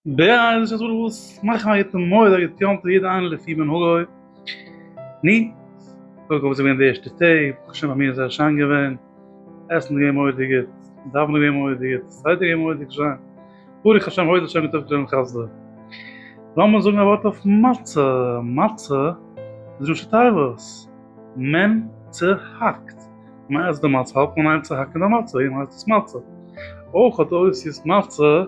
בעיי איז דא וואס מאכן א יתום מויד א יתום פאר יעדע איינער לפי מנהגו ני קודם כל וואס איז געווען די ערשטע טעג ברוך השם ביי מיר איז זייער שיין געווען עסן איז געווען מורא'דיג גוט דאווענען איז געווען מורא'דיג גוט סדר איז געווען מורא'דיג שיין ברוך השם הויז האט שוין געטאפט אן חסדו לאמיר זאגן א ווארט אויף מצה מצה איז ראשי תיבות מען צוהאקט מייז די מצה האט מען איין צו האקן די מצה און הייסט עס מצה אויך האט אויסיס מצה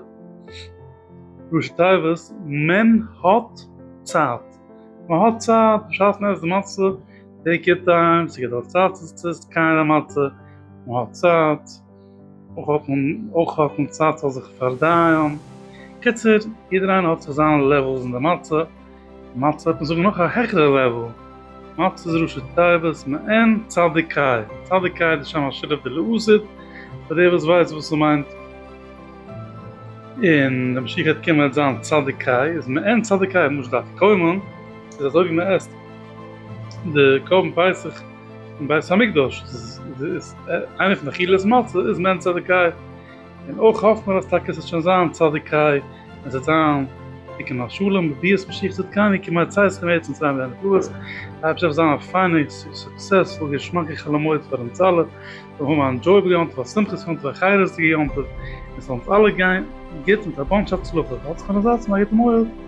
ראשי תיבות מען האט צייט מען האט צייט בשעת מען עסט די מצה טעיק יור טיים ס'געדארט צייט צו עסט קיין די מצה מען האט צייט. אויך האט מען אויך האט מען צייט זאל זיך פארדייען, קיצור יעדער איינער האט זיך זיין לעוועלס אין די מצה, מצה וועט מען זאגן נאך א העכערע לעוועל, מצה איז ראשי תיבות מעין צדיקאי, צדיקאי איז די שם השילוב די לעזית, פאר די וואס ווייסט וואס ס'מיינט, און די משיח וועט קומען וועט זיין צדיקאי, איז מעין צדיקאי, משה דארף קוימען, איז אזוי ווי מ'עסט די קרבן פסח, אין בית המקדש איז איינע פון די אכילת מצה איז מעין צדקאי, און אויך האפט מען אז טאקע עס וועט שוין זיין צדקאי, עס וועט זיין תיקון השלם בביאת משיח צדקנו כי מצאתכם ארץ מצרים ואין מקלט, דארף זיך זיין א פיינע סוקסעספול געשמאקע חול המועד פאר אונז אלע, זאל מען האבן א ענדזשויעבל יום טוב א שמחת יום טוב א חירות'דיגע יום טוב, און ס'זאל אונז אלע גיין גוט מיט א באנטש הצלחה, האטס קיין אזאץ און א גוטן מועד.